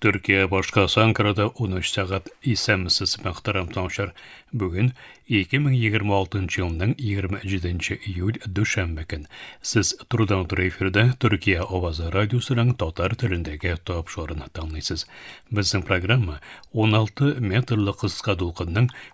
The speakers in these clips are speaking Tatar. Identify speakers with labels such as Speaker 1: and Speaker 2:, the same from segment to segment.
Speaker 1: Төркия башкасы Анкарада 13 сәгать исәмсез мәхтәрәм таңчар. Бүген 2026 елның 27 июль дүшәмбе көн. Сез турыдан туры эфирдә Төркия авазы радиосының татар телендәге топ шорын тыңлыйсыз. Безнең программа 16 метрлы кыска дулкынның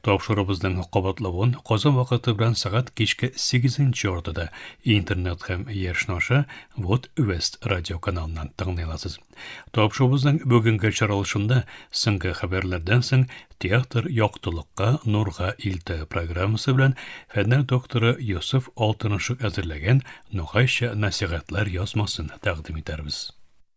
Speaker 1: Тапшырыбызның кабатлавын Казан вакыты белән сәгать кичке 8 ортада интернет һәм Яшь наша Вот Вест радио каналыннан тыңлый аласыз. Тапшырыбызның бүгенге чаралышында соңгы хәбәрләрдән соң театр яктылыкка нурга илтә программасы белән фәннәр докторы Йосыф Алтынышев әзерләгән Нугайча нәсихәтләр язмасын тәкъдим итәрбез.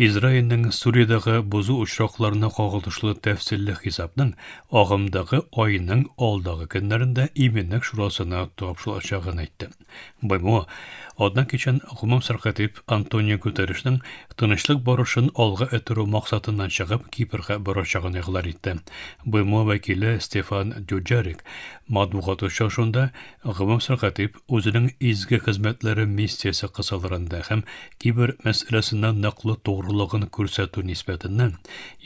Speaker 1: Израильнең Сүриядәге бозу очракларына кагылышлы тәфсилле хисапның агымдагы айның алдагы көннәрендә Иминлек шурасына тапшырылачагын әйтте. БМО Атна кичен гомум сәркатип Антонио Гутерришның тынычлык барышын алга этүрү максатыннан чыгып Кипрга барачагын игълан итте. БМО вәкиле Стефан Дюджарик матбугат очрашуында гомум сәркатип үзенең изге хезмәтләре миссиясе кысаларында һәм кибер мәсьәләсендә ныклы тугрылыгын күрсәтү нисбәтеннән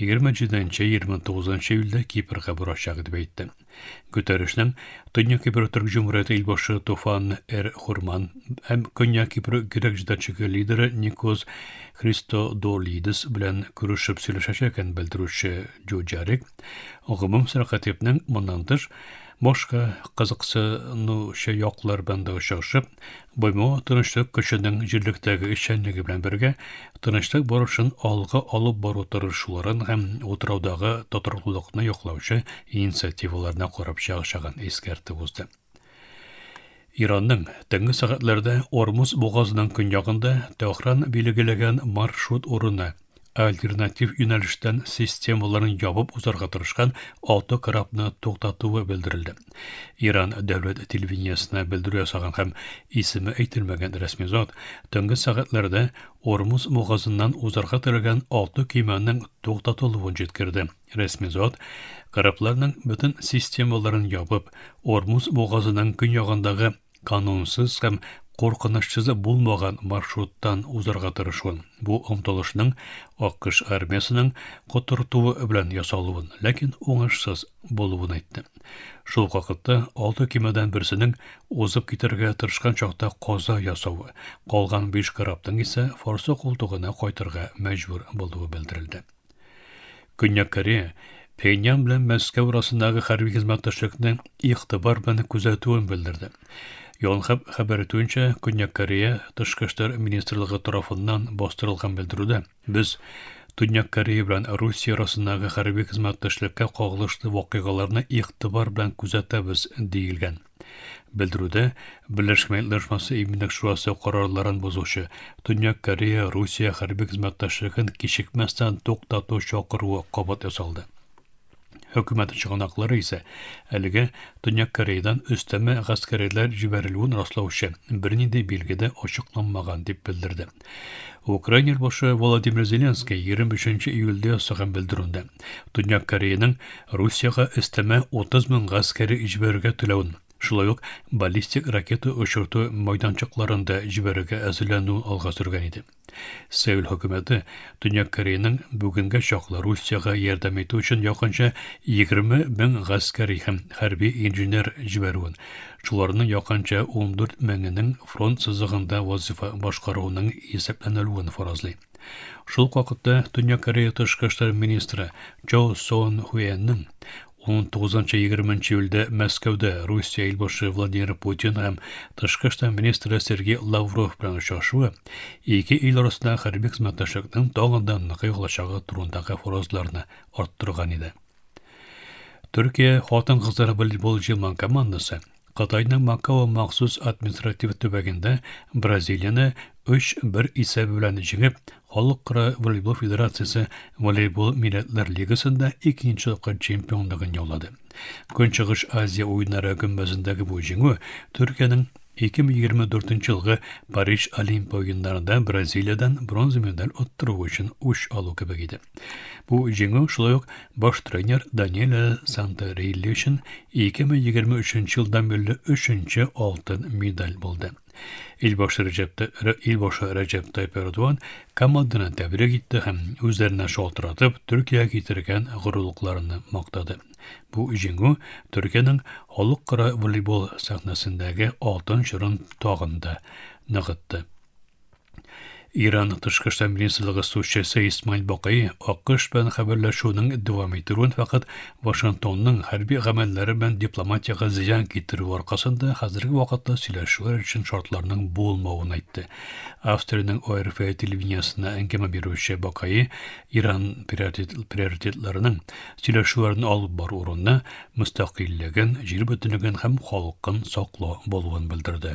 Speaker 1: 27-29 июльдә Кипрга барачак дип әйтте. Гөтерешнең Төньяк Кипр Төрк Җумһурияте илбашы Туфан Эр Хурман һәм Көньяк Кипр грек җитәкчеге лидеры Никос Христодолидис белән күрешеп сөйләшәчәген белдерүче Джуджарик, гомум сәркатипнең моннан тыш, Башка кызыксынучы яклар белән дә очрашып, БМО тынычлык көченең җирлектәге эшчәнлеге белән бергә тынычлык барышын алга алып бару тырышуларын һәм утраудагы тотрыклылыкны яклаучы инициативаларны карап чыгачагын искәртеп узды. Иранның төнге сәгатьләрдә Ормуз бугазының көньягында Тәһран билгеләгән маршрут урыны Альтернатив юнәлештән системаларын ябып узарга тырышкан автокорабны туктатуы белдерелде. Иран дәүләт телевидениесенә белдерү ясаган һәм исеме әйтелмәгән рәсми зат төнге сәгатьләрдә Ормуз бугазыннан узарга теләгән алты көймәнең туктатылуын җиткерде. Рәсми зат корабларның бөтен системаларын ябып, Ормуз бугазының көньягындагы канунсыз һәм куркынычсызы булмаган маршруттан узарга тырышуын, бу омтылышның АКШ армиясенең котыртуы белән ясалуын, ләкин уңышсыз булуын әйтте. Шул ук вакытта алты кемәдән берсенең узып китәргә тырышкан чакта каза ясавы, калган биш корабның исә Форсо култыгына кайтырга мәҗбүр булуы белдерелде. Көньяк Корея Пхеньян белән Мәскәү арасындагы хәрби хезмәттәшлекне игътибар белән күзәтүен белдерде. Йонхаб хәбәр итүенчә, Көньяк Корея тышкы эшләр министрлыгы тарафыннан бастырылган белдерүдә без Төньяк Корея белән Русия арасындагы хәрби хезмәттәшлеккә кагылышлы вакыйгаларны игътибар белән күзәтәбез, диелгән. Белдерүдә Берләшкән Милләтләр Оешмасы Иминлек шурасы карарларын бозучы Төньяк Корея Русия хәрби хезмәттәшлеген кичекмәстән туктату чакыруы кабат ясалды. Хөкүмәт чыганаклары исә әлегә Төньяк Кореядан өстәмә гаскәриләр җибәрелүен раслаучы бернинди билге дә ачыкланмаган дип белдерде. Украина башы Владимир Зеленский 23 июльдә ясаган белдерүендә Төньяк Кореяның Русиягә өстәмә 30 мең гаскәре җибәрергә теләвен, шулай ук баллистик ракета очырту майданчыкларын да җибәрергә әзерләнүен алга сөргән иде. Сеул хөкүмәте Төньяк Кореяның бүгенгә чаклы Русиягә ярдәм итү өчен якынча 20 мең гаскәри һәм хәрби инженер җибәрүен, Шуларның якынча ундүрт меңенең фронт сызыгында вазифа башкаруының исәпләнелүен фаразлый. Шул ук вакытта Төньяк Корея тышкы эшләр министры Чо Сон Хуэнның 19-20 июльдә Мәскәүдә Русия илбашы Владимир Путин һәм тышкы эшләр министры Сергей Лавров белән очрашуы ике ил арасында хәрби хезмәттәшлекнең тагын да ныгый алачагы турындагы фаразларны арттырган иде. Төркия хатын-кызлар волейбол җыелмаган командасы Кытайның Макао махсус административ төбәгендә Бразилияне 3-1 исәбе белән җиңеп, Халыкара волейбол федерациясе волейбол милләтләр лигасында икенче тапкыр чемпионлыгын яулады. Көнчыгыш Азия уеннары гөмбәзендәге бу җиңү Төркиянең 2024 елгы Париж Олимпия уеннарында Бразилиядән бронза медаль оттыру өчен үч алу кебек иде. Бу җиңү шулай ук баш тренер Даниэле Сантерелли өчен 2023 елдан бирле өченче алтын медаль булды. Илбашы Рәҗәптә Илбашы Рәҗәп Тайп Эрдуан команданы тәбрик итте һәм үзләренә шалтыратып Төркиягә китергән горурлыкларны мактады. Бу җиңү Төркиянең халыкара волейбол сәхнәсендәге алтын чорын тагын да ныгытты. Иран тышкы эшләр министрлыгы сүзчесе Исмаил Бакый АКШ белән хәбәрләшүнең дәвам итүен фәкать Вашингтонның хәрби гамәлләре белән дипломатиягә зыян китерү аркасында хәзерге вакытта сөйләшүләр өчен шартларның булмавын әйтте. Австриянең ОРФ телевидениесенә әңгәмә бирүче Бакай Иран приоритетларының сөйләшүләрне алып бару урынына мөстәкыйльлеген, җир бөтенлеген һәм халкын саклау булуын белдерде.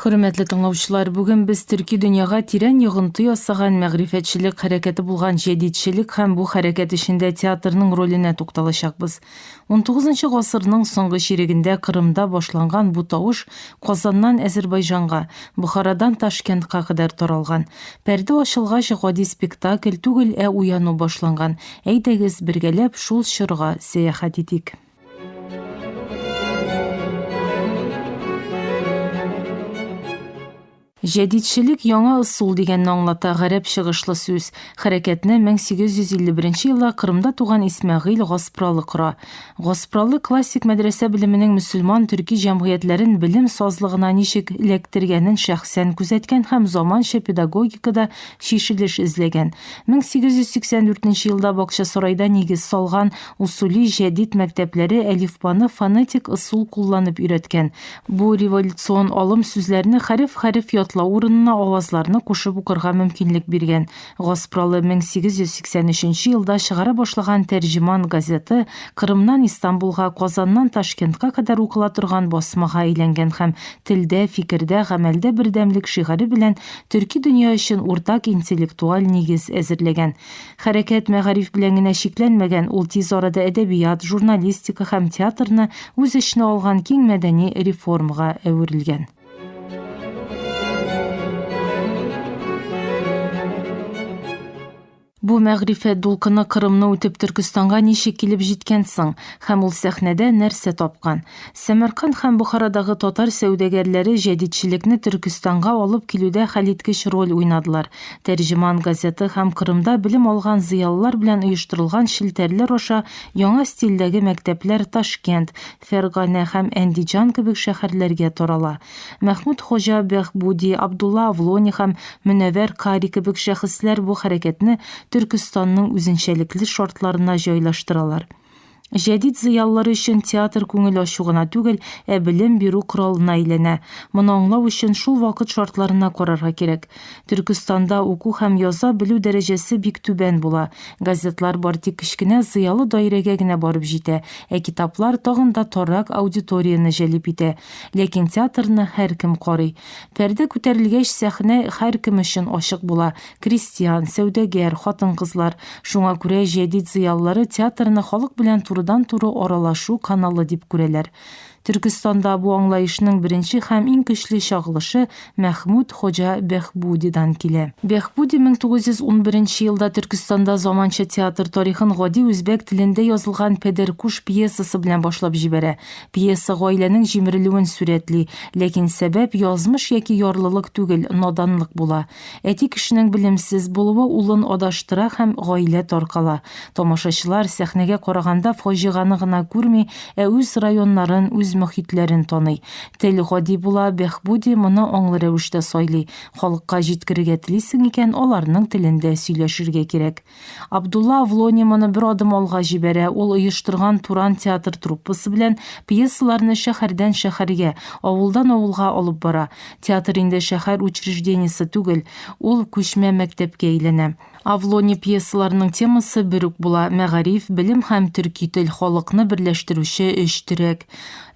Speaker 2: Хөрмәтле тыңлаучылар, бүген без төрки дөньяга тирән йогынты ясаган мәгърифәтчелек хәрәкәте булган җәдидчелек һәм бу хәрәкәт эчендә театрның роленә тукталачакбыз. Унтугызынчы гасырның соңгы чирегендә Кырымда башланган бу тавыш Казаннан Әзербайҗанга, Бохарадан Ташкентка кадәр таралган. Пәрдә ачылгач, гади спектакль түгел, ә уяну башланган. Әйдәгез, бергәләп шул чорга сәяхәт итик. Җәдидчелек, яңа ысул дигәнне аңлата гарәп чыгышлы сүз. Хәрәкәтне 1851 елда Кырымда туган Исмәгыйль Гаспралы кора. Гаспралы классик мәдрәсә белеменең мөселман төрки җәмгыятьләрен белем сазлыгына ничек эләктергәнен шәхсән күзәткән һәм заманча педагогикада чишелеш эзләгән. 1884 елда Бакчасарайда нигез салган Усули җәдит мәктәпләре әлифбаны фонетик ысул кулланып өйрәткән. Бу революцион алым сүзләрне хәреф-хәреф ятлау урынына авазларны кушып укырга мөмкинлек биргән. Гаспралы 1883 елда чыгара башлаган Тәрҗеман газеты Кырымнан Истанбулга, Казаннан Ташкентка кадәр укыла торган басмага әйләнгән һәм Телдә, фикердә, гамәлдә бердәмлек шигаре белән төрки дөнья өчен уртак интеллектуаль нигез әзерләгән. Хәрәкәт мәгариф белән генә чикләнмәгән, ул тиз арада әдәбият, журналистика һәм театрны үз эченә алган киң мәдәни реформага әверелгән. Бу мәгърифәт дулкыны Кырымны үтеп Төркестанга ничек килеп җиткән соң? Һәм ул сәхнәдә нәрсә тапкан? Сәмәрканд һәм Бохарадагы татар сәүдәгәрләре җәдидчелекне Төркестанга алып килүдә хәлиткеч роль уйнадылар. Тәрҗеман газеты һәм Кырымда белем алган зыялылар белән оештырылган челтәрләр аша яңа стильдәге мәктәпләр Ташкент, Фәрганә һәм Әндиҗан кебек шәһәрләргә тарала. Мәхмүд Хоҗа Бәһбүди, Абдулла Авлони һәм Мөнәвәр Кари кебек шәхесләр бу хәрәкәтне Төркестанның үзенчәлекле шартларына җайлаштыралар. Җәдит зыялылар өчен театр күңел ачу гына түгел, ә белем бирү коралына әйләнә. Моны аңлау өчен шул вакыт шартларына карарга кирәк. Төркестанда уку һәм яза белү дәрәҗәсе бик түбән була. Газетлар бар тик кечкенә зыялы даирәгә генә барып җитә, ә китаплар тагын да таррак аудиторияне җәлеп итә. Ләкин театрны һәркем карый. Пәрдә күтәрелгәч, сәхнә һәркем өчен ачык була. крестьян, сәүдәгәр, хатын-кызлар. Шуңа күрә җәдит зыялылары театрны халык белән турыдан-туры аралашу каналы дип күрәләр. Төркестанда бу аңлаешның беренче һәм иң көчле чагылышы Мәхмүт Хоҗа Бәхбудидан килә. Бәхбуди 1911 елда Төркестанда заманча театр тарихын гади үзбәк телендә язылган Пәдәркуш пьесасы белән башлап җибәрә. Пьеса гаиләнең җимерелүен сурәтли. Ләкин сәбәп язмыш яки ярлылык түгел, наданлык була. Әти кешенең белемсез булуы улын адаштыра һәм гаилә таркала. Тамашачылар, сәхнәгә караганда, фаҗиганы гына күрми, ә үз районнарын, үз мохитләрен таный. Тел гади була, Бехбуди моны аңлы рәвештә сайлый. Халыкка җиткерергә телисең икән, аларның телендә сөйләшергә кирәк. Абдулла Авлони моны бер адым алга җибәрә, ул оештырган Туран театр труппасы белән пьесаларны шәһәрдән шәһәргә, авылдан авылга алып бара. Театр инде шәһәр учреждениесе түгел, ул күчмә мәктәпкә әйләнә. Авлони пьесаларының темасы бер үк була, мәгариф, белем һәм төрки тел, халыкны берләштерүче өч терәк.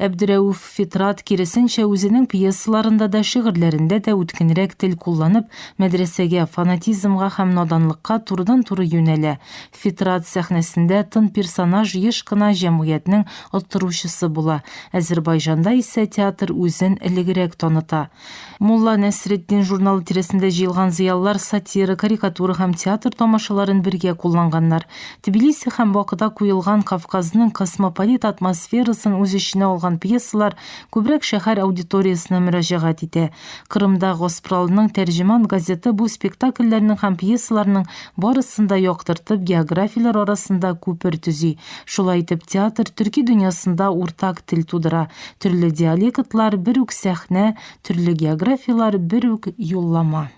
Speaker 2: Әбдерәүф. Фитрат, киресенчә, үзенең пьесаларында да, шигырьләрендә дә үткенрәк тел кулланып, мәдрәсәгә, фанатизмга һәм наданлыкка турыдан-туры юнәлә. Фитрат сәхнәсендә тын персонаж еш кына җәмгыятьнең оттыручысы була. Әзербайҗанда исә театр үзен элегрәк таныта. Мулла Нәсретдин журналы тирәсендә җыелган зыялылар сатира, карикатура һәм театр тамашаларын бергә кулланганнар. Тбилиси һәм Бакыда куелган Кавказның космополит атмосферасын үз эченә алган пьесалар күбрәк шәһәр аудиториясенә мөрәҗәгать итә. Кырымда Госпралның Тәрҗеман газеты бу спектакльләрнең һәм пьесаларның барысын да яктыртып, географияләр арасында күпер төзи. Шулай итеп, театр төрки дөньясында уртак тел тудыра. Төрле диалектлар, бер үк сәхнә, төрле географияләр, бер үк юллама.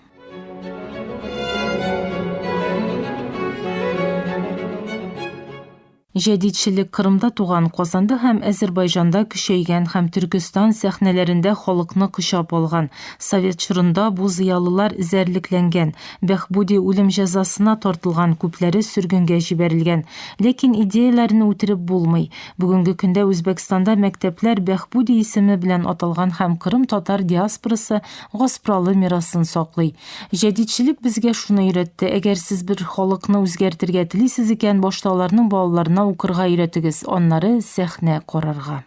Speaker 2: Җәдидчелек Кырымда туган, Казанда һәм Әзербайҗанда көчәйгән һәм Төркестан сәхнәләрендә халыкны кочап алган. Совет чорында бу зыялылар эзәрлекләнгән, Бәхбүди үлем җәзасына тартылган, күпләре сөргенгә җибәрелгән. Ләкин идеяләрен үтереп булмый. Бүгенге көндә Үзбәкстанда мәктәпләр Бәхбуди исеме белән аталган һәм Кырым татар диаспорасы гаспралы мирасын саклый. Җәдидчелек безгә шуны өйрәтте, әгәр сез бер халыкны үзгәртергә телисез икән, башта аларның балаларына укырга өйрәтегез, аннары сәхнә карарга.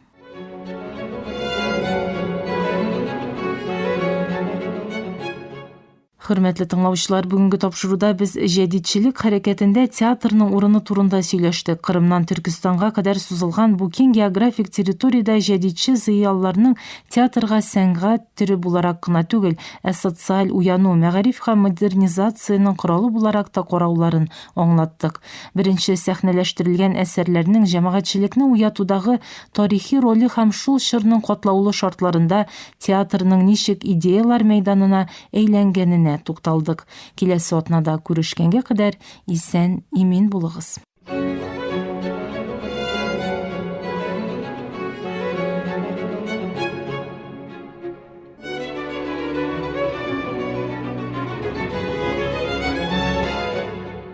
Speaker 2: Хөрмәтле тыңлаучылар, бүгенге тапшыруда без җәдидчелек хәрәкәтендә театрның урыны турында сөйләштек. Кырымнан Төркестанга кадәр сузылган бу киң географик территориядә җәдидче зыялыларның театрга сәнгать төре буларак кына түгел, ә социаль уяну, мәгариф һәм модернизациянең коралы буларак та карауларын аңлаттык. Беренче сәхнәләштерелгән әсәрләрнең җәмәгатьчелекне уятудагы тарихи роле һәм шул чорның катлаулы шартларында театрның ничек идеяләр мәйданына әйләнгәненә тукталдык. Киләсе атнада күрешкәнгә кадәр исән, имин булыгыз.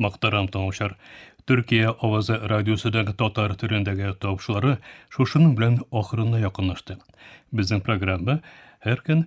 Speaker 1: Мактарам тыңлаучылар. Төркия авазы радиосыдагы татар төрендәге тавышлары шушының белән ахырына якынлашты. Безнең программа һәр көн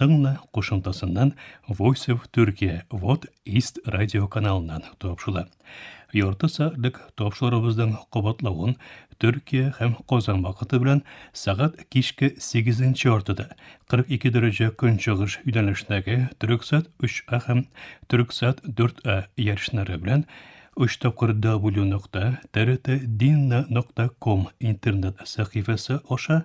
Speaker 1: Тыңла кушымтасыннан Voice of Turkey Вот Ист радио каналыннан тапшыла. Ярты сәгатьлек тапшырыбызның кабатлавын Төркия һәм Казан вакыты белән сәгать кичке 8 яртыда 42 дәрәҗә көнчыгыш юнәлешендәге Төрксат 3А һәм Төрксат 4А ярышлары белән 3 тапкыр w.trtdinna.com интернет сәхифәсе аша